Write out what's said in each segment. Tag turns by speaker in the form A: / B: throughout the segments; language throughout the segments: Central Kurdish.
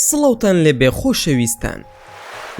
A: سڵاوتان لێبێ خۆشەویستان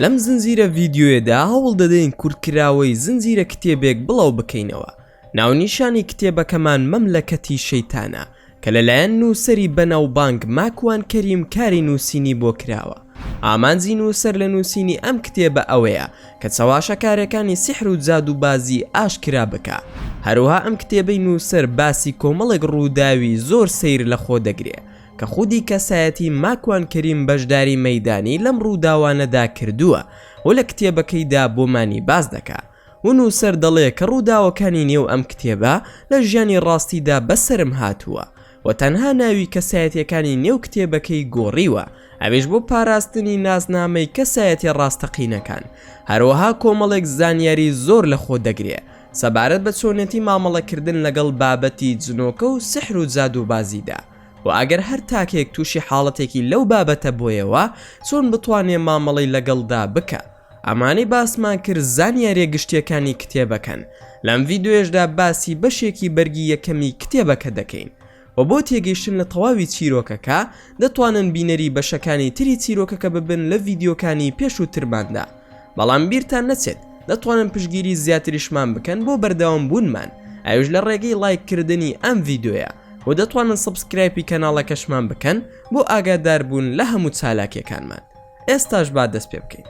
A: لەم زنجیرە ڤیدیۆیەدا هەوڵ دەدەین کورتکراوەی زنجیرە کتێبێک بڵاو بکەینەوە ناونیشانی کتێبەکەمان مەملەکەتی شەیتانە کە لەلایەن نووسەری بەناوبانگ ماکوان کەریم کاری نووسینی بۆ کراوە. ئامانجی نووسەر لە نووسینی ئەم کتێبە ئەوەیە کە چەواشەکارێکانی سیحر و جادووبازی ئاشکرا بکا. هەروەها ئەم کتێبەی نووسەر باسی کۆمەڵێک ڕووداوی زۆر سەیر لە خۆ دەگرێ کە خودی کەسایەتی ماکوان کەریم بەشداری مەیدانی لەم ڕووداوانەدا کردووە و لە کتێبەکەیدا بۆمانی باس دەکا. و نووسەر دەڵێ کە ڕووداوەکانی نێو ئەم کتێبە لە ژیانی ڕاستیدا بەسەرم هاتووە و تەنها ناوی کەسایەتییەکانی نێو کتێبەکەی گۆڕیوە ئەویش بۆ پاراستنی ناسنامەی کەسایەتیە ڕاستەقینەکان هەروەها کۆمەڵێک زانیاری زۆر لە خۆ دەگرێ سەبارەت بە چۆنێتی مامەڵەکردن لەگەڵ بابەتی جنۆکە و سحر و جادووبازیدا و ئەگەر هەر تاکێک تووشی حاڵەتێکی لەو بابەتە بۆیەوە چۆن بتوانێ مامەڵەی لەگەڵدا بکا. ئەمانەی باسمان کرد زانیاریە گشتیەکانی کتێبەکەن لەم ڤیدۆیەشدا باسی بەشێکی بەرگی یەکەمی کتێبەکە دەکەین و بۆ تێگەیشتن لە تەواوی چیرۆکەکە دەتوانن بینەری بەشەکانی تری چیرۆکەکە ببن لە ڤیدیۆکانی پێشووترماندا بەڵام بیرتان نەچێت دەتوانن پشگیری زیاتریشمان بکەن بۆ بەردەوام بوونمان ئەوش لە ڕێگەی لایک کردنی ئەم ڤیدۆیە و دەتوانن سبسکرایپی کەناڵەکەشمان بکەن بۆ ئاگاداربوون لە هەموو چالاکیەکانمان ئێستاش با دەست پێ بکەین.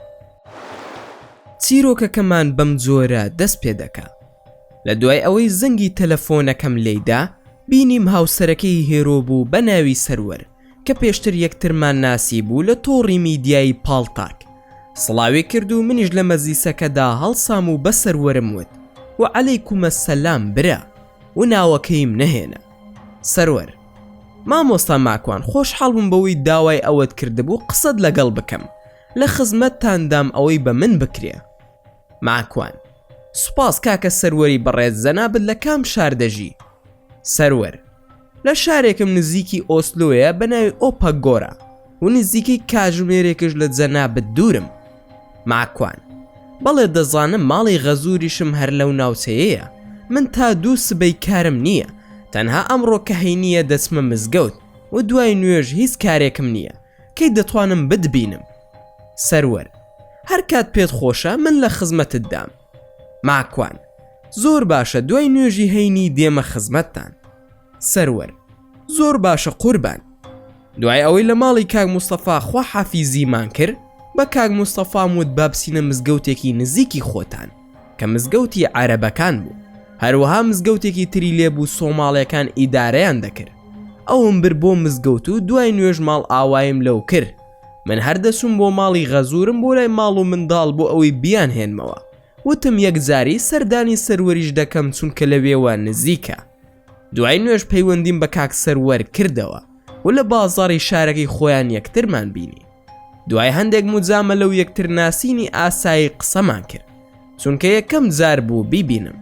A: چیرۆکەکەمان بەم جۆرە دەست پێ دەکا. لە دوای ئەوەی زەنگی تەلەفۆنەکەم لێی دا، بینیم هاوسەرەکەی هێرۆ بوو بە ناوی سەروەر، کە پێشتر یەکترمان ناسیبوو لە تۆڕی میدیایی پاڵتاک. سڵاوی کرد و منیش لە مەجلیسەکەدا هەڵسام و بە سەروەرم وت، وەعەلەیکومەسسەلام برا! و ناوەکەیم نەهێنا. سەروەر. مامۆستا ماکوان خۆشحاڵ بووم بەوەی داوای ئەوەت کردبوو قسەت لەگەڵ بکەم لە خزمەتتاندام ئەوەی بە من بکرێ ماکوان سوپاس کاکە سەروەری بەڕێز جەنابت لە کام شار دەژی سەروەر لە شارێکم نزیکی ئۆسلۆیە بە ناوی ئۆپە گۆرە و نزیکەی کاژمێرێکش لە جەنابت دوورم. ماکوان. بەڵێ دەزانم ماڵی غەزووریشم هەر لەو ناوچەیەیە، من تا دوو سبەی کارم نییە، تەنها ئەمڕۆ کە هەینییە دەچمە مزگەوت و دوای نوێژ هیچ کارێکم نییە، کەی دەتوانم بتبینم؟ سەروەر. هەر کات پێت خۆشە من لە خزمەتتدام. ماکوان. زۆر باشە دوای نوێژی هەینی دێمە خزمەتتان. سەروەر زۆر باشە قوربان. دوای ئەوەی لە ماڵی کاک مستەفا خوا حافیزیمان کرد بە کاک مستەفام وت با بچینە مزگەوتێکی نزیکی خۆتان کە مزگەوتی عەرەبەکان بوو هەروەها مزگەوتێکی تری لێ بوو سۆماڵیەکان ئیدارەیان دەکرد ئەوم برد بۆ مزگەوت و دوای نوێژ ماڵ ئاوایم لەو کرد من هەر دەچووم بۆ ماڵی غەزورم بۆ لای ماڵ و منداڵ بۆ ئەوەی بیانهێنمەوە وتم یەکجاری سەردانی سەروەریش دەکەم چونکە لەوێوە نزیکە دوای نوێژ پەیوەندیم بە کاک سەروەر کردەوە و لە بازاڕی شارەکەی خۆیان یەکترمان بینی دوای هەندێک مجامە لەو یەکتر ناسینی ئاسایی قسەمان کرد چونکە یەکەم جار بوو بیبینم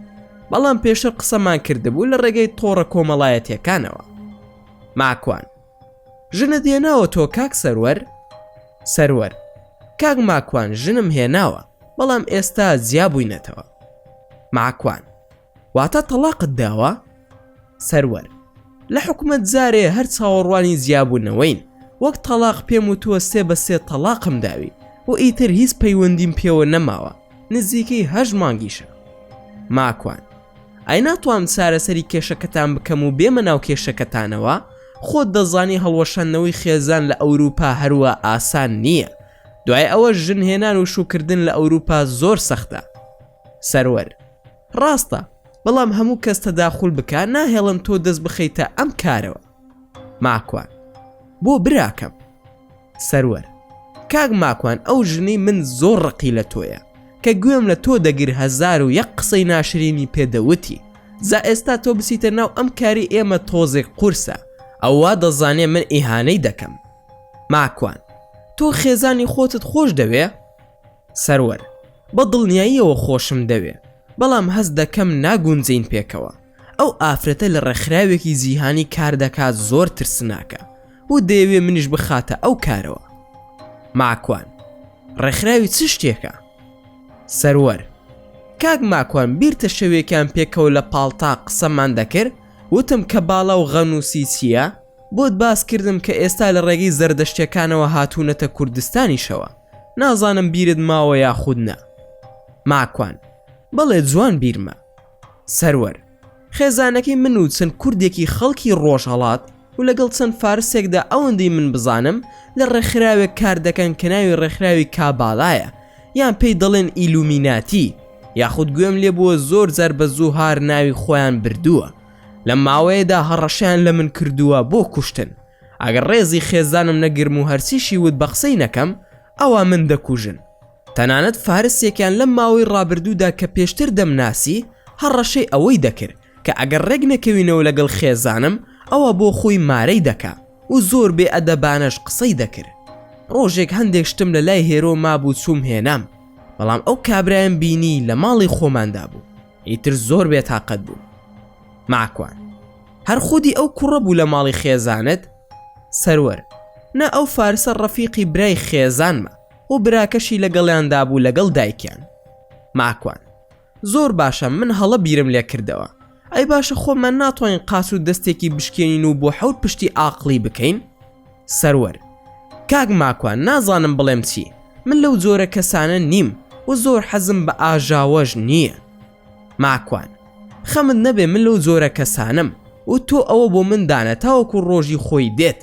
A: بەڵام پێشتر قسەمان کردبوو لە ڕێگەی تۆڕە کۆمەڵایەتیەکانەوە ماکوان ژنە دێناوە تۆ کاک سەروەر سەروەر کاک ماکوان ژنم هێناوە بەڵام ئێستا جیا بووینەتەوە ماکوان واتە تەڵاقت داوە؟ سەروەر، لە حکومەت زارێ هەر چاوەڕوانی جیابوونەوەین، وەک تەڵاق پێم وتووە سێ بە سێ تەڵاقم داوی و ئیتر هیچ پەیوەندیم پێوە نەماوە، نزیکەی هەشت مانگیشە. ماکوان، ئای ناتوانم چارەسەری کێشەکەتان بکەم و بێمە ناو کێشەکەتانەوە، خۆت دەزانی هەڵوەشاندنەوەی خێزان لە ئەوروپا هەروا ئاسان نییە، دوای ئەوەش ژن هێنان و شووکردن لە ئەوروپا زۆر سەختە. سەروەر، ڕاستە، بەڵام هەموو کەس تەداخول بکا ناهێڵن تۆ دەست بخەیتە ئەم کارەوە. ماکوان، بۆ براکەم؟ سەروەر، کاک ماکوان ئەو ژنەی من زۆر ڕقی لە تۆیە، کە گوێم لە تۆ دەگر هەزار و یەک قسەی ناشرینی پێ دەوتی، جا ئێستا تۆ بچیتە ناو ئەم کاری ئێمە تۆزێک قورسە، ئەو وا دەزانێ من ئیهانەی دەکەم. ماکوان، تۆ خێزانی خۆتت خۆش دەوێ؟ سەروەر، بە دڵنیاییەوە خۆشم دەوێ، بەڵام هەست دەکەم ناگونجێین پێکەوە. ئەو ئافرەتە لە ڕێکخراوێکی جیهانی کار دەکات زۆر ترسناکە و دەیەوێ منیش بخاتە ئەو کارەوە. ماکوان، ڕێکخراوی چ شتێکە؟ سەروەر، کاک ماکوان بیرتە شەوێکیان پێکەوە لە پاڵتا قسەمان دەکرد وتم کەباڵا و غەنووسی چییە؟ بۆت باس کردم کە ئێستا لە ڕێگەی زەردەشتیەکانەوە هاتوونەتە کوردستانیشەوە نازانم بیرت ماوە یاخود نا ماکوان بەڵێ جوان بیرمە سەروەر خێزانەکەی من و چەند کوردێکی خەڵکی ڕۆژهڵات و لەگەڵ چەند فارسێکدا ئەوەندەی من بزانم لە ڕێکخراوێک کار دەکەن کە ناوی ڕێکخراوی کابالایە یان پێی دەڵێن ئیلومیناتی یاخود گوێم لێ بووە زۆر جار بە زوو هار ناوی خۆیان بردووە لەم ماوەیەدا هەڕەشەیان لە من کردووە بۆ کوشتن ئەگەر ڕێزی خێزانم نەگرم و هەرچیشی وت بە قسەی نەکەم ئەوە من دەکوژن تەنانەت فارسێکیان لەم ماوەی ڕابردوودا کە پێشتر دەمناسی هەڕەشەی ئەوەی دەکرد کە ئەگەر ڕێک نەکەوینەوە لەگەڵ خێزانم ئەوە بۆ خۆی مارەی دەکا و زۆر بێ ئەدەبانەش قسەی دەکرد ڕۆژێک هەندێک شتم لە لای هێرۆ مابوو چووم هێنام بەڵام ئەو کابرایم بینی لە ماڵی خۆماندا بوو ئیتر زۆر بێتاقەت بووم. ماکوان. هەر خودی ئەو کوڕە بوو لە ماڵی خێزانت؟ سەروەر. نا ئەو فارسە ڕەفیقی برای خێزانمە و براکەشی لەگەڵیاندا بوو لەگەڵ دایکیان. ماکوان. زۆر باشە من هەڵە بیرم لێ کردەوە. ئەی باشە خۆمان ناتوانین قاچ و دەستێکی بشکێنین و بۆ حەوت پشتی ئاقڵی بکەین؟ سەروەر کاک ماکوان نازانم بڵێم چی من لەو جۆرە کەسانە نیم و زۆر حەزم بە ئاژاوەش نییە ماکوان خەمت نەبێ من لەو جۆرە کەسانم و تۆ ئەوە بۆ من دانە تاوەکو ڕۆژی خۆی دێت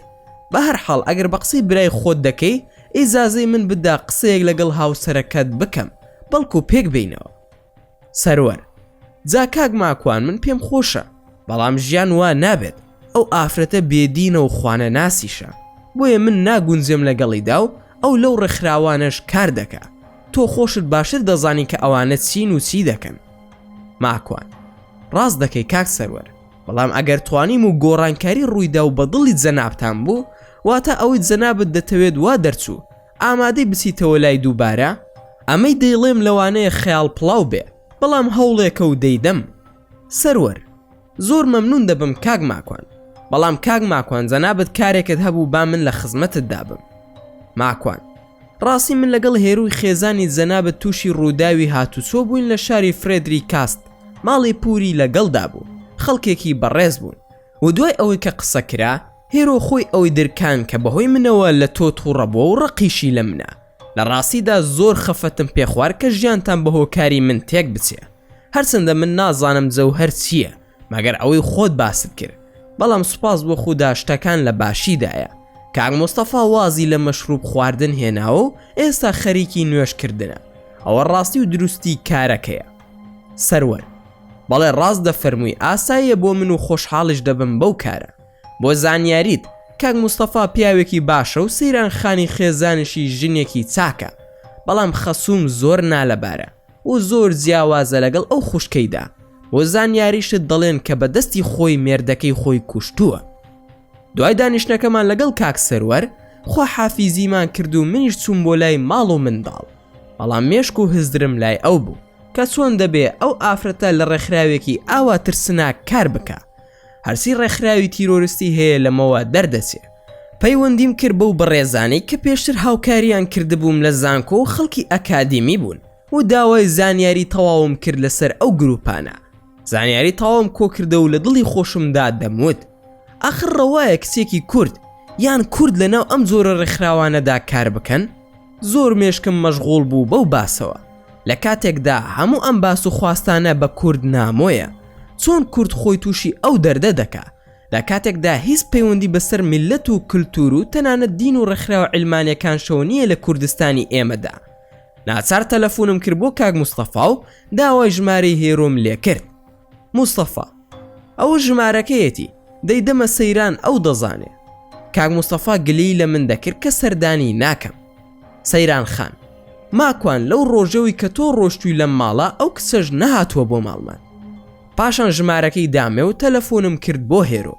A: بە هەر حاڵ ئەگەر بە قسەی برای خۆت دەکەی ئیزازەی من بدا قسەیەک لەگەڵ هاوسەرەکەت بکەم بەڵکو پێک بینەوە سەروەر جا کاک ماکوان من پێم خۆشە بەڵام ژیان وا نابێت ئەو ئافرەتە بێدینە و خوانە ناسیشە بۆیە من ناگونجێم لەگەڵیدا و ئەو لەو ڕێکخراوانەش کار دەکە تۆ خۆشت باشتر دەزانی کە ئەوانە چین و چی دەکەن ماکوان ڕاست دەکەی کاک سەروەر بەڵام ئەگەر توانیم و گۆڕانکاری ڕوویدا و بەدڵی جەنابتان بوو واتە ئەوەی جەنابت دەتەوێت وا دەرچوو ئامادەی بچیتەوە لای دووبارە؟ ئەمەی دەیڵێم لەوانەیە خەیاڵ پڵاو بێ بەڵام هەوڵێکە و دەیدەم. سەروەر، زۆر مەمنوون دەبم کاک ماکوان. بەڵام کاک ماکوان جەنابت کارێکت هەبوو با من لە خزمەتتدا بم. ماکوان، ڕاستی من لەگەڵ هێرووی خێزانی جەنابت تووشی ڕووداوی هاتووچۆ بووین لە شاری فرێدری کاست ماڵی پووری لەگەڵدا بوو خەڵکێکی بەڕێز بوون و دوای ئەوەی کە قسە کرا هێرۆ خۆی ئەوی درکاند کە بەهۆی منەوە لە تۆ توڕە بووە و ڕقیشی لە منە. لە ڕاستیدا زۆر خەفەتم پێ خوارد کە ژیانتان بە هۆکاری من تێک بچێ. هەرچەندە من نازانم جەوهەر چییە، مەگەر ئەوەی خۆت باست کرد. بەڵام سوپاس بۆ خودا شتەکان لە باشیدایە. کاک مستەفا وازی لە مەشروب خواردن هێناوە و ئێستا خەریکی نوێژ کردنە. ئەوە ڕاستی و دروستی کارەکەیە. سەروەر، بەڵێ ڕاست دەفەرمووی، ئاساییە بۆ من و خۆشحاڵیش دەبم بەو کارە. بۆ زانیاریت کاک مستەفا پیاوێکی باشە و سەیران خانی خێزانیشی ژنێکی چاکە بەڵام خەسووم زۆر نالەبارە و زۆر جیاوازە لەگەڵ ئەو خوشکەیدا بۆ زانیاریشت دەڵێن کە بە دەستی خۆی مێردەکەی خۆی کوشتووە دوای دانیشتنەکەمان لەگەڵ کاک سەروەر خوا حافیزیمان کرد و منیش چووم بۆ لای ماڵ و منداڵ بەڵام مێشک و هزدرم لای ئەو بوو کە چۆن دەبێ ئەو ئافرەتە لە ڕێکخراوێکی ئاوا ترسناک کار بکە هەرچی ڕێکخراوی تیرۆرستی هەیە لەمەوە دەردەچێ. پەیوەندیم کرد بەو بەڕێزانەی کە پێشتر هاوکاریان کردبووم لە زانکۆ و خەڵکی ئەکادیمی بوون و داوای زانیاری تەواوم کرد لەسەر ئەو گروپانە. زانیاری تەواوم کۆکردە و لە دڵی خۆشمدا دەموت ئاخر ڕەوایە کچێکی کورد یان کورد لەناو ئەم جۆرە ڕێکخراوانەدا کار بکەن؟ زۆر مێشکم مەشغوڵ بوو بەو باسەوە لە کاتێکدا هەموو ئەم باس و خواستانە بە کورد نامۆیە چۆن کورد خۆی تووشی ئەو دەردە دەکا لە کاتێکدا هیچ پەیوەندی بەسەر میللەت و کلتور و تەنانەت دین و ڕێکخراوە عیلمانیەکانشەوە نییە لە کوردستانی ئێمەدا ناچار تەلەفونم کرد بۆ کاک مستەفا و داوای ژمارەی هێرۆم لێکرد مستەفا. ئەوە ژمارەکەیەتی، دەی دەمە سەیران ئەو دەزانێ. کاک مستەفا گلەیی لە من دەکرد کە سەردانی ناکەم. سەیران خان. ماکوان لەو ڕۆژەوی کە تۆ ڕۆشتوی لەم ماڵە ئەو کچەش نەهاتوە بۆ ماڵمان. پاشان ژمارەکەی دامێ و تەلەفونم کرد بۆ هێرۆ.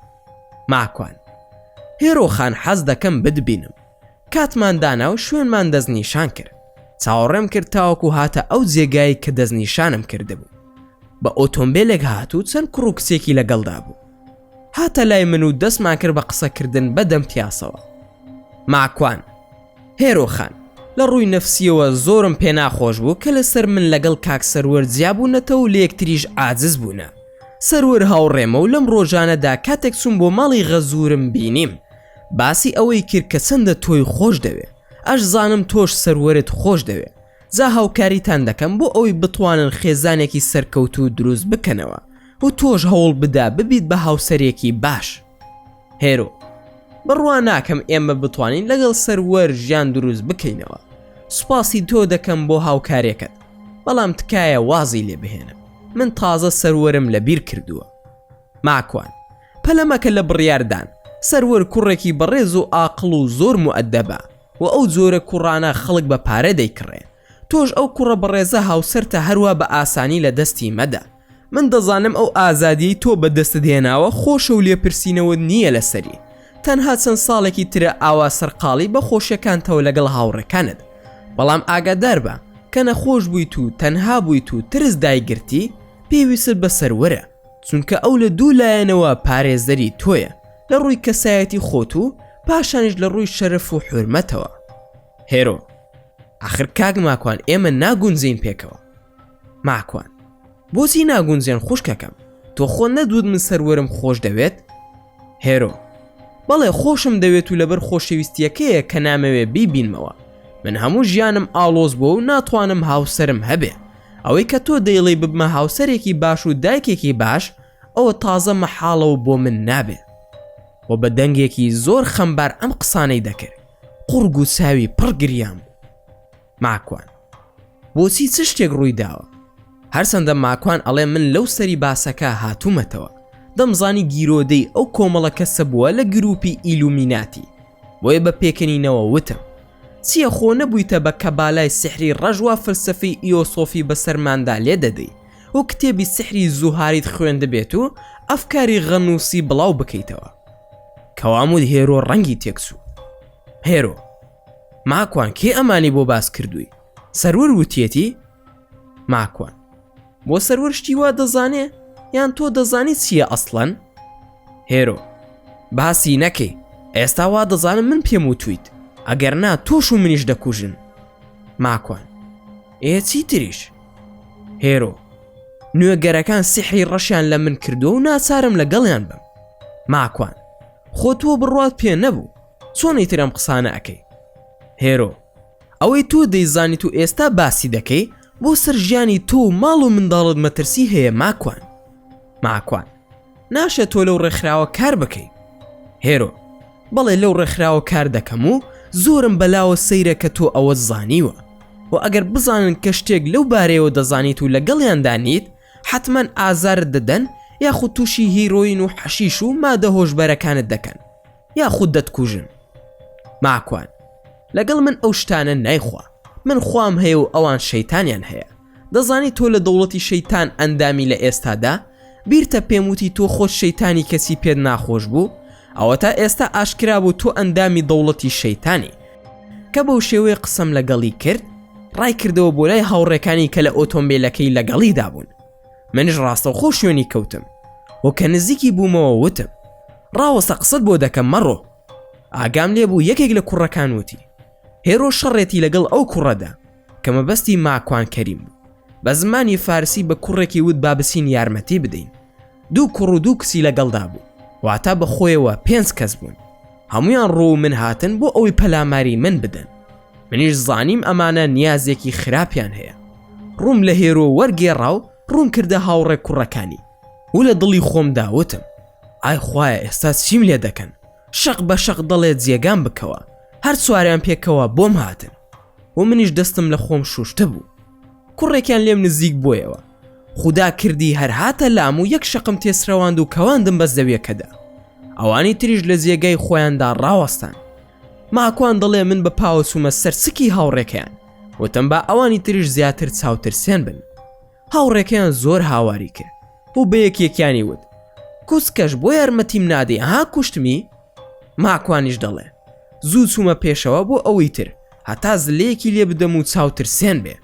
A: ماکوان. هێرۆ خان حەز دەکەم بتبینم. کاتمان دانا و شوێنمان دەستنیشان کرد چاوەڕێم کرد تاوەکو هاتە ئەو جێگای کە دەستنیشانم کردبوو بە ئۆتۆمبیلێک هات و چەند کوڕ و کچێکی لەگەڵدا بوو هاتە لای من و دەستمان کرد بە قسەکردن بە دەم پیاسەوە ماکوان هێرۆخان لە ڕووی نەفسیەوە زۆرم پێ ناخۆش بوو کە لەسەر من لەگەڵ کاک سەروەر جیابوونەتە و لەکتریش ئاجز بوونە سەروەر هاوڕێمە و لەم ڕۆژانەدا کاتێک چوون بۆ ماڵی غەزورم بینیم باسی ئەوەی کرد کە چەندە تۆی خۆش دەوێ ئەش زانم تۆش سەروەرت خۆش دەوێ جا هاوکاریتان دەکەم بۆ ئەوەی بتوانن خێزانێکی سەرکەوتوو دروست بکەنەوە و تۆش هەوڵ بدا ببیت بە هاوسەرێکی باش هێرۆ بڕوا ناکەم ئێمە بتوانین لەگەڵ سەروەر ژیان دروست بکەینەوە سوپاسی تۆ دەکەم بۆ هاوکارێکەت بەڵام تکایە وازی لێ بهێنە من تازە سەروەرم لە بیر کردووە ماکوان، پەلە مەکە لە بڕیاردان، سەروەر کوڕێکی بەڕێز و ئاقڵ و زۆر موئەدەبە و ئەو جۆرە کوڕانە خەڵک بە پارە دەیکڕێ. تۆش ئەو کوڕە بەڕێزە هاوسەرتە هەروا بە ئاسانی لە دەستی مەدە. من دەزانم ئەو ئازادیەی تۆ بە دەستت هێناوە خۆشە و لێپرسینەوەت نییە لە سەری. تەنها چەند ساڵێکی ترە ئاوا سەرقاڵی بە خۆشیەکانتەوە لەگەڵ هاوڕێکانت. بەڵام ئاگادار بە، کە نەخۆش بوویت و تەنها بوویت و ترس دایگرتی، پێویستت بە سەروەرە. چونکە ئەو لە دوو لایەنەوە پارێزەری تۆیە لە ڕووی کەسایەتی خۆت و پاشانیش لە ڕووی شەرف و حورمەتەوە هێرۆ ئاخر کاک ماکوان ئێمە ناگونجین پێکەوە ماکوان بۆچی ناگونجێن خوشکەکەم تۆ خۆ نەدوود من سەروەرم خۆش دەوێت هێرۆ بەڵێ خۆشم دەوێت و لەبەر خۆشەویستیەکەیە کە نامەوێ بیبینمەوە من هەموو ژیانم ئاڵۆز بۆ و ناتوانم هاوسرم هەبێ ئەوەی کە تۆ دەیڵی ببمە هاوسەرێکی باش و دایکێکی باش ئەوە تازە مەحاڵەوە بۆ من نابێ و بە دەنگێکی زۆر خەمبار ئەم قسانەی دەکرد قوڕگ و چاوی پڕ گریان بوو ماکوان. بۆچی چ شتێک ڕووی داوە؟ هەرچەندە ماکوان ئەڵێ من لەو سەری باسەکە هاتوومەتەوە، دەمزانی گیرۆدەی ئەو کۆمەڵە کەسە بووە لە گرووپی ئیلومیناتی، بۆیە بە پێکەنینەوە وتم، چییە خۆ نەبوویتە بە کەبالای سیحری ڕەش وا فەلسەفەی ئیۆسۆفی بەسەرماندا لێ دەدەی و کتێبی سیحری زوهاریت خوێندبێت و ئەفکاری غەنووسی بڵاو بکەیتەوە؟ کەواموت هێرۆ ڕەنگی تێکچوو. هێرۆ. ماکوان کێ ئەمانی بۆ باس کردووی سەرور وتیەتی ماکوان بۆ سەرور شتی وا دەزانێ یان تۆ دەزانی چییە ئەسڵەن هێرۆ باسی نەکەی ئێستا وا دەزانم من پێم وتویت ئەگەر نا تۆش و منیش دەکوژن ماکوان ئێ چی تریش هێرۆ نوێگەرەکان سحری ڕەشیان لە من کردو و ناچارم لە گەڵیان بم ماکوان خۆ تۆ بڕوات پێ نەبوو چۆن ئیتر ئەم قسانە ئەکەی هێرۆ ئەوەی تۆ دەیزانیت و ئێستا باسی دەکەی بۆ سەر ژیانی تۆ و ماڵ و منداڵت مەترسی هەیە ماکوان ماکوان ناشێت تۆ لەو ڕێکخراوە کار بکەی هێرۆ بەڵێ لەو ڕێکخراوە کار دەکەم و زۆرم بەلاوە سەیرە کە تۆ ئەوە زانیوە و ئەگەر بزانن کە شتێک لەو بارەیەوە دەزانیت و لەگەڵیاندا نیت حتمما ئازارت دەدەن یاخود تووشی هیرۆین و حەشیش و مادە هۆشبەرەکانت دەکەن یاخود دەتکوژن ماکوان لەگەڵ من ئەو شتانە نایخوا من خوام هەیە و ئەوان شەیتانیان هەیە دەزانی تۆ لە دەوڵەتی شەیتان ئەندامی لە ئێستادا بیرتە پێم وتی تۆ خۆت شەیتانی کەسی پێت ناخۆش بوو ئەوە تا ئێستا ئاشکرا بوو تۆ ئەندامی دەوڵەتی شەیتانی کە بەو شێوەیە قسەم لەگەڵی کرد ڕای کردەوە بۆ لای هاوڕێکانی کە لە ئۆتۆمبیلەکەی لەگەڵیدا بوون منش ڕاستە خۆ شوێنی کەوتم و کە نزیکی بوومەوە وتم ڕاوەستە قسەت بۆ دەکەم مەڕۆ ئاگام لێبوو یەکێک لە کوڕەکان وتی هێرۆ شەڕێتی لەگەڵ ئەو کوڕەدا کە مەبەستی ماکوان کەریم بوو بە زمانی فارسی بە کوڕێکی وت بابسین یارمەتی بدەین دوو کوڕ و دوو کچی لەگەڵدا بوو واتە بەخۆیەوە پێنج کەس بوون هەموویان ڕوو من هاتن بۆ ئەوەی پەلاماری من بدەن منیش زانیم ئەمانە نیازێکی خراپیان هەیە ڕووم لە هێرۆ وەرگێڕا و ڕوون کردە هاوڕێ کوڕەکانی و لە دڵی خۆم داوتم ئای خوایە ئێستا چیم لێ دەکەن شەق بە شەق دەڵێ جێگام بکەوە هەر سواریان پێکەوە بۆم هاتن و منیش دەستم لە خۆم شوشتە بوو کوڕێکیان لێم نزیک بۆیەوە خودا کردی هەر هاتە لام و یەک شەقم تێسرەواند و کەواندم بە زەویەکەدا ئەوانی تریش لە جێگای خۆیاندا ڕاوەستان ماکوان دەڵێ من بە پاوە چوومە سەر سکی هاوڕێکەیان وتم با ئەوانی تریش زیاتر چاوترسێن بن هاوڕێکەیان زۆر هاواری کرد و بە یەکێکیانی وت کوسکەش بۆ یارمەتیم نادەی ها کوشتمی ماکوانیش دەڵێ زوو چوومە پێشەوە بۆ ئەوەی تر هەتا زلەیەکی لێ بدەم و چاوترسێن بێ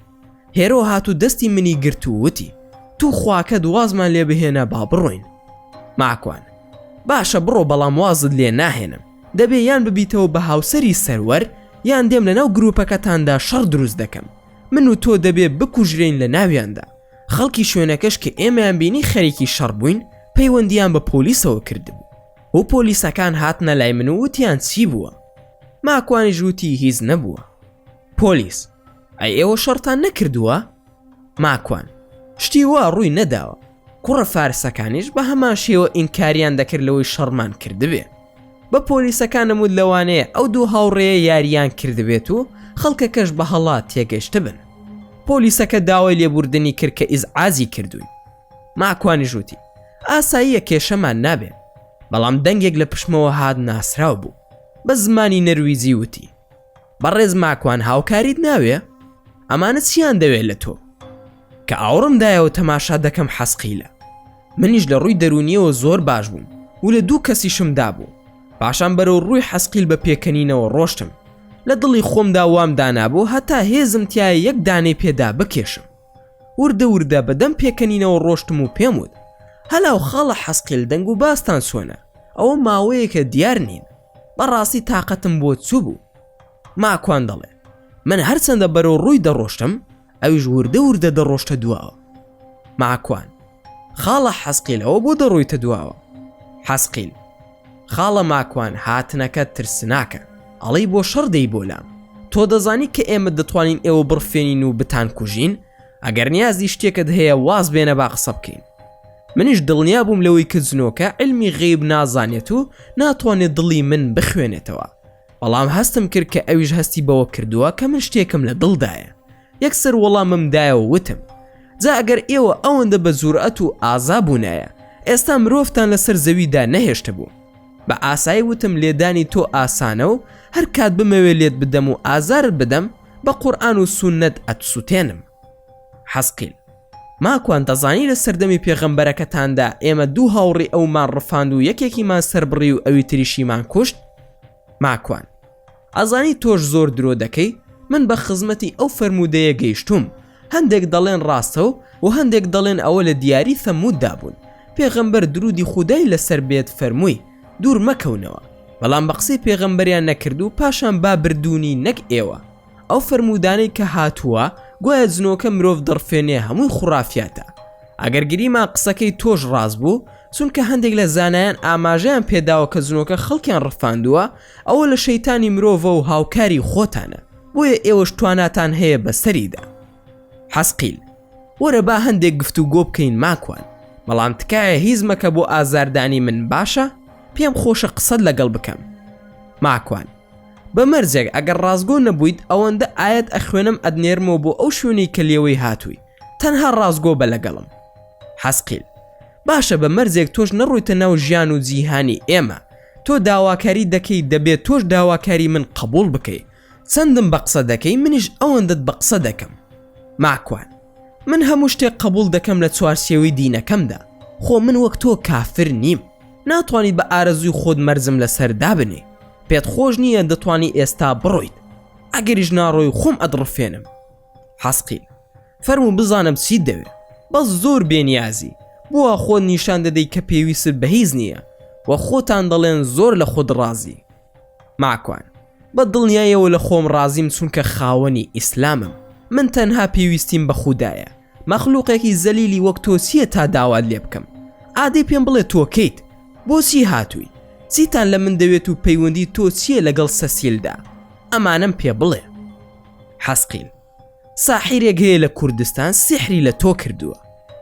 A: هێرۆ هات و دەستی منی گرت و وتی تو خواکەت وازمان لێ بهێنە با بڕۆین ماکوان باشە بڕۆ بەڵام وازت لێ ناهێنم دەبێ یان ببیتەوە بە هاوسەری سەروەر یان دێم لە ناو گروپەکەتاندا شەڕ دروست دەکەم من و تۆ دەبێ بکوژرین لە ناویاندا خەڵکی شوێنەکەش کە ئێمەیان بینی خەرێکی شەڕ بووین پەیوەندیان بە پۆلیسەوە کردبوو و پۆلیسەکان هاتنە لای من و وتیان چی بووە ماکوانی ژووتی هیز نەبووە پۆلیس ئەی ئێوە شەڕتان نەکردووە؟ ماکوان شتی وا ڕووی نەداوە کوڕە فارسەکانیش بە هەمان شێوە ئینکاریان دەکرد لەوەی شەڕمان کردبێ بە پۆلیسەکانم و لەوانەیە ئەو دوو هاوڕێیە یاریان کردبێت و خەڵکەکەش بە هەڵا تێگەشت بن پۆلیسەکە داوای لێبوردنی کرد کە ئیزعازی کردووی ماکوانی ژووتی ئاساییە کێشەمان نابێ بەڵام دەنگێک لە پشمەوە هاات ناسراو بوو بە زمانی نەرویزی وتی بەڕێز ماکوان هاوکاریت ناوێ ئەمانە چیان دەوێت لە تۆ کە ئاوڕم دایەوە تەماشا دەکەم حەسقیلە منیش لە ڕووی دەرونیەوە زۆر باش بووم و لە دوو کەسیشم دابوو پاشان بەرەو ڕووی حەسقیل بە پێکەنینەوە ڕۆشتم لە دڵی خۆمدا وام دانابوو هەتا هێزم تایە یەک دانەی پێدا بکێشم وردە وردە بەدەم پێکەنینەوە ڕۆشتم و پێم وت هەلاو خاڵە حەسقیل دەنگ و باستان سۆنە ئەوە ماوەیەکە دیار نین بەڕاستی تاقەتم بۆ چوبوو ماکوان دەڵێ من هەرچەندە بەرەو ڕووی دەڕۆشتم ئەویش وردە وردە دەڕۆشتە دواوە ماکوان خاڵە حەسقیلەوە بۆ دەڕۆیتە دواوە حەسقیل خاڵە ماکوان هاتنەکە ترسناکە ئەڵی بۆ شەڕ دەی بۆ لام تۆ دەزانی کە ئێمە دەتوانین ئێوە بڕفێنین و بتان کوژین ئەگەر نیازی شتێکت هەیە واز بێنە با قسە بکەین منیش دڵنیا بووم لەوەی کە جنۆکە علمی غیب نازانێت و ناتوانێت دڵی من بخوێنێتەوە بەڵام هەستم کرد کە ئەویش هەستی بەوە کردووە کە من شتێکم لە دڵدایە یەکسەر وەڵامم دایەوە وتم جا ئەگەر ئێوە ئەوەندە بە جورئەت و ئازا بوونایە ئێستا مرۆڤتان لەسەر زەویدا نەهێشتە بوو بە ئاسایی وتم لێدانی تۆ ئاسانە و هەر کات بمەوێ لێت بدەم و ئازارت بدەم بە قورئان و سوننەت ئەتسوتێنم. حەزقیل، ماکوان دەزانی لە سەردەمی پێغەمبەرەکەتاندا ئێمە دوو هاوڕی ئەومان ڕفاند و یەکێکیمان سەربڕی و ئەوی تریشیمان کوشت؟ ماکوان، ئەزانی تۆش زۆر درۆ دەکەی من بە خزمەتی ئەو فەرموودەیە گەیشتووم، هەندێک دەڵێن ڕاستە و هەندێک دەڵێن ئەوە لە دیاری ثەمووددا بوون، پێغەمبەر دروودی خودای لەسەر بێت فەرمووی، دوور مەکەونەوە، بەڵام بە قسەی پێغەمبەریان نەکرد و پاشان با بردوونی نەک ئێوە، ئەو فەرموودانەی کە هاتووە گوایە جنۆکە مرۆڤ دەڕفێنێ هەمووی خوڕافیاتە، ئەگەر گریمان قسەکەی تۆش ڕاست بوو، چونکە هەندێک لە زانایان ئاماژەیان پێداوە کە جنۆکە خەڵکیان ڕفاندووە، ئەوە لە شەیتانی مرۆڤە و هاوکاری خۆتانە بۆیە ئێوەش تواناتان هەیە بەسەریدا حەسقیل وەرە با هەندێک گفت و گۆ بکەین ماکوان بەڵام تکایە هیز مەکە بۆ ئازاردانی من باشە پێم خۆشە قسەت لەگەڵ بکەم ماکوان بە مەرجێک ئەگەر ڕازگۆ نەبوویت ئەوەندە ئاەت ئەخوێنم ئەدنێرمەوە بۆ ئەو شوێنی کە لێوەی هاتووی تەنها ڕازگۆ بە لەگەڵم حەسقیل باشە بە مەرجێک تۆش نەڕوویتە ناو ژیان و جیهانی ئێمە تۆ داواکاریت دەکەی دەبێت تۆش داواکاری من قبول بکەی چەندم بە قسە دەکەی منیش ئەوەندەت بە قسە دەکەم ماکوان من هەموو شتێک قبول دەکەم لە چوارچێوەی دینەکەمدا خۆ من وەک تۆ کافر نیم ناتوانیت بە ئارەزووی خۆت مەرزم لەسەر دابنێ پێت خۆش نییە دەتوانی ئێستا بڕۆیت ئەگەریش ناڕۆی خۆم ئەدڕفێنم حەسقی فەرموو بزانم چیت دەوێ بەس زۆر بێنیازی بۆوا خۆت نیشان دەدەی کە پێویست بە هیچ نییە و خۆتان دەڵێن زۆر لە خۆت ڕازی ماکوان بە دڵنیایەوە لە خۆم ڕازیم چونکە خاوەنی ئیسلامم من تەنها پێویستیم بە خودایە مەخلوقێکی زەلیلی وەک تۆ چییە تا داوات لێ بکەم ئادەی پێم بڵێ تۆ کەیت بۆچی هاتووی چیتان لە من دەوێت و پەیوەندی تۆ چییە لەگەڵ سەسیلدا ئەمانەم پێ بڵێ حەسقیل ساحیرێک هەیە لە کوردستان سیحری لە تۆ کردووە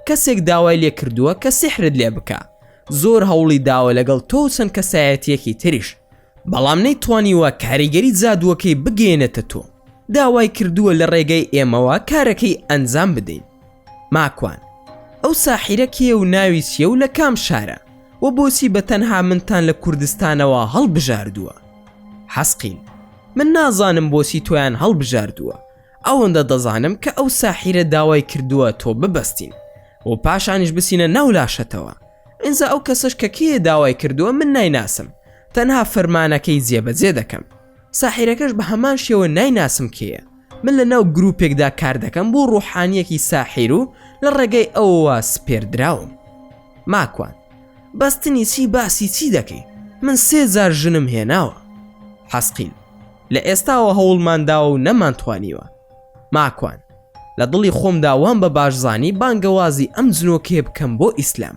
A: کەسێک داوای لێ کردووە کە سیحرت لێ بکە زۆر هەوڵی داوە لەگەڵ تۆ چەند کەسایەتیەکی تریش بەڵام نەی توانیوە کاریگەری جادووەکەی بگەێنێتە تۆ داوای کردووە لە ڕێگەی ئێمەوە کارەکەی ئەنجام بدەین ماکوان ئەو ساحیرە کێیە و ناوی چییە و لە کام شارە و بۆچی بە تەنها منتان لە کوردستانەوە هەڵبژاردووە حەسقیل من نازانم بۆچی تۆیان هەڵبژاردووە ئەوەندە دەزانم کە ئەو ساحیرە داوای کردووە تۆ ببەستین و پاشانیش بچینە ناو لاشەتەوە ئینجا ئەو کەسەش کە کێیە داوای کردووە من نایناسم تەنها فەرمانەکەی جێبەجێ دەکەم ساحیرەکەش بە هەمان شێوە نایناسم کێیە من لە ناو گروپێکدا کار دەکەم بۆ ڕوحانیەکی ساحیر و لە ڕێگەی ئەوەوە سپێردراوم ماکوان بەستنی چی باسی چی دەکەی من سێ جار ژنم هێناوە حەسقیل لە ئێستاوە هەوڵمانداوە و نەمانتوانیوە ماکوان لە دڵی خۆمدا وام بە باشزانی بانگەوازی ئەم جنۆکەیە بکەم بۆ ئیسلام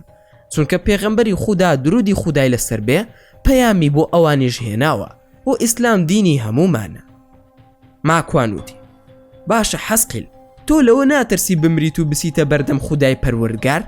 A: چونکە پێغەمبەری خودا درودی خودای لەسەر بێ پەیامی بۆ ئەوانیش هێناوە و ئیسلام دینی هەمومانە ماکوان وتی باشە حەسقیل تۆ لەوە ناترسی بمریت و بسیتە بەردەم خودای پەروەردگار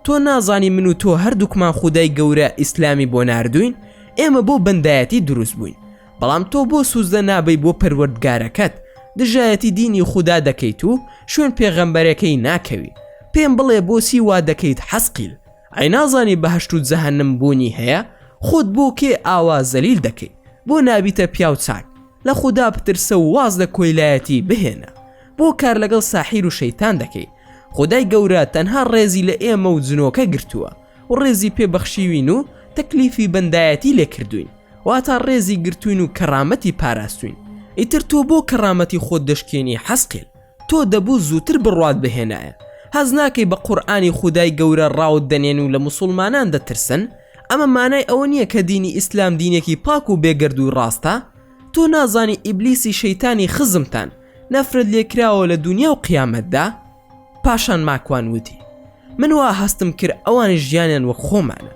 A: تۆ نازانی من و تۆ هەردووکمان خودای گەورە ئیسلامی بۆ ناردوین ئێمە بۆ بەندایەتی دروست بووین بەڵام تۆ بۆ سوجدە نابەی بۆ پەروەردگارەکەت دژایەتی دینی خودا دەکەیت و شوێن پێغەمبەرەکەی ناکەوی پێم بڵێ بۆچی وا دەکەیت حەسقیل ئەی نازانی بەهەشت و جەهەنم بوونی هەیە خۆت بۆ کێ ئاوا زەلیل دەکەی بۆ نابیتە پیاو چاک لە خودا بترسە و واز لە کۆیلایەتی بهێنە بۆ کار لەگەڵ ساحیر و شەیتان دەکەی خدای گەورە تەنها ڕێزی لە ئێمە و جنۆکە گرتووە و ڕێزی پێ بەخشیوین و تەکلیفی بەندایەتی لێ کردووین واتا ڕێزی گرتووین و کەڕامەتی پاراستووین ئیتر تۆ بۆ کەڕامەتی خۆت دەشکێنی حەسقیل تۆ دەبوو زووتر بڕوات بهێنایە هەست ناکەی بە قورئانی خودای گەورە ڕاوت دەنێن و لە موسوڵمانان دەترسن ئەمە مانای ئەوە نییە کە دینی ئیسلام دینێکی پاک و بێگەردووی ڕاستە تۆ نازانی ئیبلیسی شەیتانی خزمتان نەفرەت لێکراوە لە دونیا و قیامەتدا پاشان ماکوان وتی من وا هەستم کرد ئەوانی ژیانیان وەک خۆمانە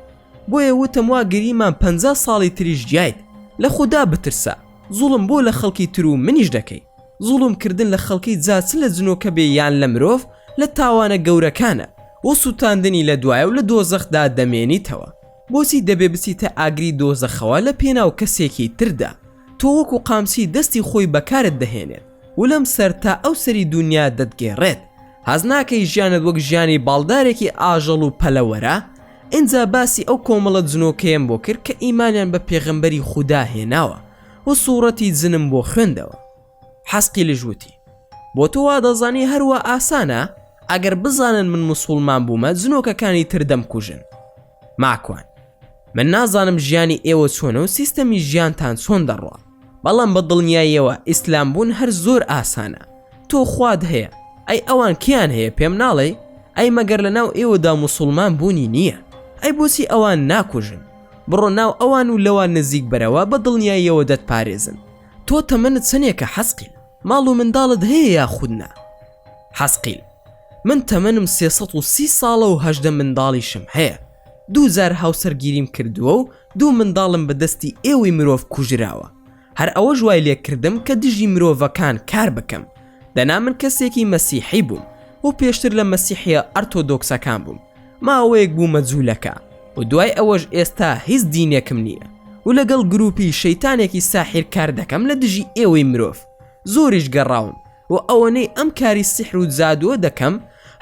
A: بۆیە وتم وا گریمان پ ساڵی تریش گیایت لە خودا بترسە زوڵم بۆ لە خەڵکی تر و منیش دەکەی زوڵم کردن لە خەڵکی جا چ لە جنۆکە بێ یان لە مرۆڤ لە تاوانە گەورەکانە و سووتاندنی لە دوایە و لە دۆزەخدا دەمێنیتەوە بۆچی دەبێ بچیتە ئاگری دۆزەخەوە لە پێناو کەسێکی تردا تۆ وەکو قامچی دەستی خۆی بەکارت دەهێنێت ولەم سەر تا ئەو سەری دوونیا دەتگێڕێت هەست ناکەی ژیانت وەک ژیانی باڵدارێکی ئاژەڵ و پەلەوەرە ئینجا باسی ئەو کۆمەڵە جنۆکەیەم بۆ کرد کە ئیمانیان بە پێغەمبەری خودا هێناوە و سوڕەتی جنم بۆ خوێندەوە حەسقیلش وتی بۆ تۆ وا دەزانی هەروا ئاسانە ئەگەر بزانن من مسوڵمان بوومە جنۆکەکانی تر دەمکوژن ماکوان من نازانم ژیانی ئێوە چۆنە و سیستەمی ژیانتان چۆن دەڕوا بەڵام بە دڵنیاییەوە ئیسلام بوون هەر زۆر ئاسانە تۆ خواد هەیە ئەی ئەوان کیان هەیە پێم ناڵێ ئەی مەگەر لە ناو ئێوەدا مسلمان بوونی نییە ئەی بۆچی ئەوان ناکوژن بڕۆ ناو ئەوان و لەوان نزیک بەرەوە بە دڵنیاییەوە دەتپارێزن تۆ تەمەنت چەنێکە حەسقیل ماڵ و منداڵت هەیە یاخود نا حەسقیل، من تەمەنم سێ سەد و سی ساڵە و هەژدە منداڵیشم هەیە، دوو جار هاوسەرگیریم کردووە و دوو منداڵم بە دەستی ئێوەی مرۆڤ کوژراوە، هەر ئەوەش وای لێ کردم کە دژی مرۆڤەکان کار بکەم، دەنا من کەسێکی مەسیحی بووم و پێشتر لە مەسیحییە ئەرتۆدۆکسەکان بووم، ماوەیەک بوومە جوولەکە و دوای ئەوەش ئێستا هیچ دینێکم نییە و لەگەڵ گرووپی شەیتانێکی ساحیر کار دەکەم لە دژی ئێوەی مرۆڤ، زۆریش گەڕاوم، و ئەوەنەی ئەم کاری سیحر و جادووە دەکەم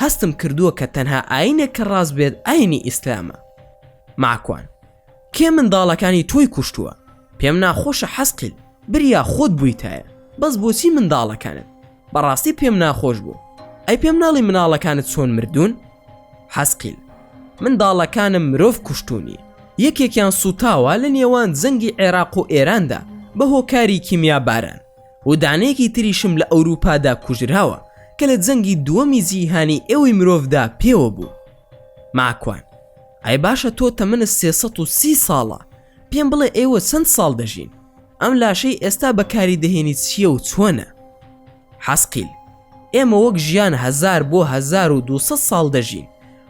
A: هەستم کردووە کە تەنها ئاینێک کە ڕاست بێت ئاینی ئیسلامە ماکوان کێ منداڵەکانی تۆی کوشتووە پێم ناخۆشە حەسقیل بریا خۆت بوویتایە بەس بۆچی منداڵەکانت بەڕاستی پێم ناخۆش بوو ئەی پێم ناڵی مناڵەکانت چۆن مردوون حەسقیل منداڵەکانم مرۆڤ کوشتونی یەکێکیان سوتاوە لە نێوان جەنگی عێراق و ئێراندا بە هۆکاری کیمیا باران و دانەیەکی تریشم لە ئەوروپادا کوژراوە کە لە جەنگی دووەمی جیهانی ئێوەی مرۆڤدا پێوە بوو. ماکوان، ئای باشە تۆ تەمەنت سێ سەد و سی ساڵە، پێم بڵێ ئێوە چەند ساڵ دەژین؟ ئەم لاشەی ئێستا بەکاری دەهێنیت چییە و چۆنە؟ حەسقیل، ئێمە وەک ژیان هەزار بۆ هەزار و دوو سەد ساڵ دەژین،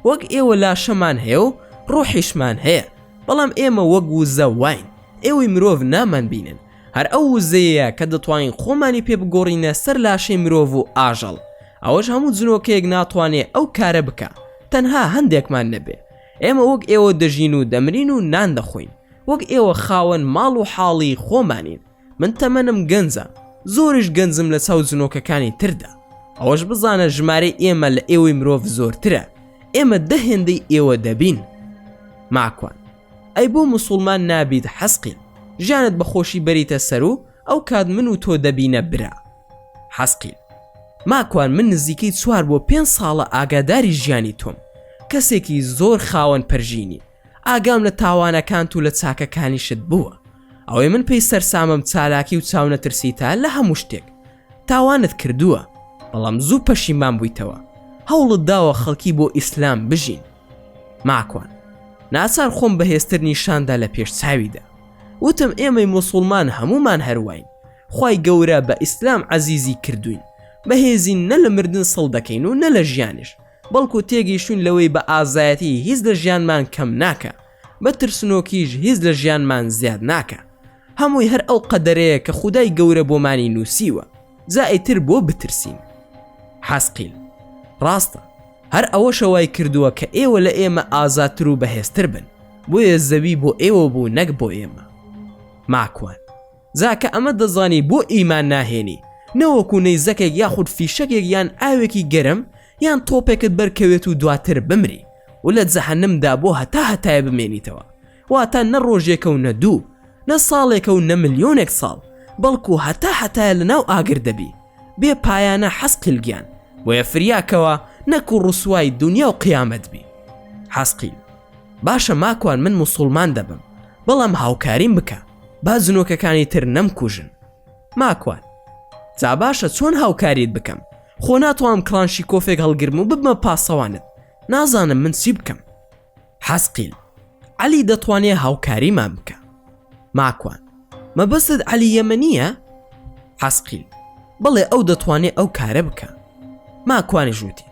A: وەک ئێوە لاشەمان هەیە و ڕۆحیشمان هەیە، بەڵام ئێمە وەک وزە واین، ئێوەی مرۆڤ نامانبینن، هەر ئەو وزەیەیە کە دەتوانین خۆمانی پێ بگۆڕینە سەر لاشەی مرۆڤ و ئاژەڵ ئەوەش هەموو جنۆکەیەک ناتوانێ ئەو کارە بکا تەنها هەندێکمان نەبێ ئێمە وەک ئێوە دەژین و دەمرین و نان دەخۆین وەک ئێوە خاوەن ماڵ و حاڵی خۆمانین من تەمەنم گەنجە زۆریش گەنجم لە چاو جنۆکەکانی تردا ئەوەش بزانە ژمارەی ئێمە لە ئێوەی مرۆڤ زۆرترە ئێمە دە هێندەی ئێوە دەبین ماکوان ئەی بۆ موسوڵمان نابیت حەسقیل ژیانت بە خۆشی بەریتە سەرو ئەو کات من و تۆ دەبینە برا. حەسقیل. ماکوان من نزیکەی چوار بۆ پێنج ساڵە ئاگاداری ژیانی تۆم کەسێکی زۆر خاوەن پەرژینی ئاگام لە تاوانەکانت و لە چاکەکانیشت بووە ئەوەی من پێی سەرسامم چالاکی و چاونەترسیتە لە هەموو شتێک تاوانت کردووە بەڵام زوو پەشیمان بوویتەوە هەوڵت داوە خەڵکی بۆ ئیسلام بژین ماکوان ناچار خۆم بەهێزتر نیشاندا لە پێش چاویدا وتم ئێمەی مسلمان هەمومان هەرواین خی گەورە بە ئیسلام عزیزی کردوین بەهێزین نە لە مردن سڵ دەکەین و نە لە ژیانش بەڵکو تێگەیشتون لەوەی بە ئازایەتی هیچ لە ژیانمان کەم ناکە بە ترسنۆکیش هیچ لە ژیانمان زیاد ناکە هەمووی هەر ئەو قەدەرەیە کە خودای گەورە بۆمانی نووسیوە جا ئیتر بۆ بترسین؟ حەزقیل، ڕاستە، هەر ئەوەشە وای کردووە کە ئێوە لە ئێمە ئازاتر و بەهێزتر بن، بۆیە زەوی بۆ ئێوە بوو نەک بۆ ئێمە. ماکوان، جا کە ئەمە دەزانی بۆ ئیمان ناهێنی، نەوەکو نەیزەکێک یاخود فیشەکێک یان ئاوێکی گەرم یان تۆپێکت بەرکەوێت و دواتر بمری و لە جەهەنمدا بۆ هەتا هەتایە بمێنیتەوە، واتە نە ڕۆژێکە و نە دوو، نە ساڵێکە و نە ملیۆنێک ساڵ، بەڵکو هەتا هەتایە لەناو ئاگر دەبی، بێ پایانە حەسقیل گیان، بۆیە فریا کەوە نەکو ڕسوای دونیا و قیامەت بی. حەسقیل، باشە ماکوان من موسوڵمان دەبم، بەڵام هاوکاریم بکە، با جنۆکەکانی تر نەمکوژن. ماکوان، جا باشە چۆن هاوکاریت بکەم، خۆ ناتوانم کڵانشیکۆفێک هەڵگرم و ببمە پاسەوانت، نازانم من چی بکەم. حەسقیل، عەلی دەتوانێ هاوکاریمان بکا. ماکوان، مەبەستت عەلی یەمەنییە؟ حەسقیل، بەڵێ ئەو دەتوانێ ئەو کارە بکا. ماکوانیش وتی،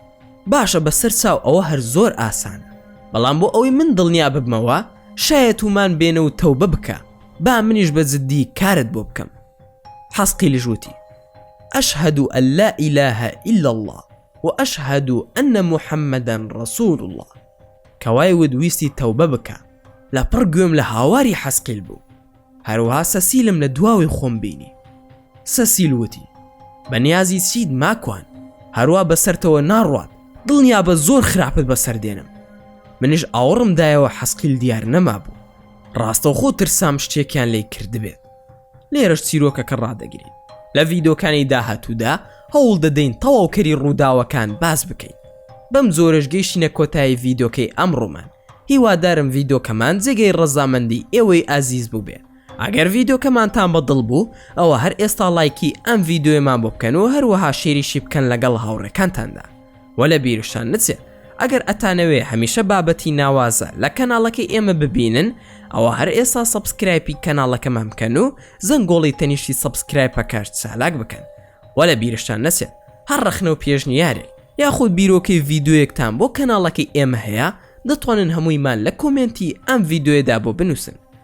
A: باشە بە سەر چاو ئەوە هەر زۆر ئاسانە. بەڵام بۆ ئەوەی من دڵنیا ببمەوە شایە توومان بێنە و تەوبە بکە با منیش بە جددی کارت بۆ بکەم. حەسقیلیش وتی، ئەشهەدو ئەللا ئیلاهە ئیللا اللە و اشهد ان محمدا رسول اللە کە وای وت ویستی تەوبە بکا لە پڕ گوێم لە هاواری حەسقیل بوو هەروەها سەسیلم لە دواوەی خۆم بینی سەسیل وتی بە نیازی چیت ماکوان هەروا بەسەرتەوە ناڕوات دڵنیابە زۆر خراپت بەسەر دێنم منیش ئاوڕم دایەوە حەسقیل دیار نەمابوو ڕاستەوخۆ ترسام شتێکیان لێی کردبێت. لێرەش چیرۆکەکە ڕادەگرین. لە ڤیدۆکانی داهاتوودا هەوڵ دەدەین تەواوکەری ڕووداوەکان باس بکەین. بەم جۆرەش گەیشتینە کۆتایی ڤیدۆکەی ئەمڕۆمان. هیوادارم ڤیدۆکەمان جێگەی ڕەزامەندی ئێوەی ئازیز بووبێ. ئەگەر ڤیدۆکەمانتان بە دڵ بوو ئەوا هەر ئێستا ڵایکی ئەم ڤیدۆیەمان بۆ بکەن و هەروەها شێریشی بکەن لەگەڵ هاوڕێکانتاندا. وە لە بیرشتان نچێ ئەگەر ئەتانەوێ هەمیشە بابەتی ناوازە لە کەناڵەکەی ئێمە ببینن ئەوە هەر ئێسا سەبسکرایپی کەناڵەکەمان بکەن و زەنگۆڵی تەنیشتی سەبسکرایپەکەش چالاک بکەن وە لە بیرشتان نەچێت هەر ڕەخنە و پێشنیارێک یاخود بیرۆکەی ڤیددیوەکتان بۆ کەناڵەکەی ئێمە هەیە دەتوانن هەموویمان لە کۆمێنتی ئەم ڤیددیوێدا بۆ بنووسن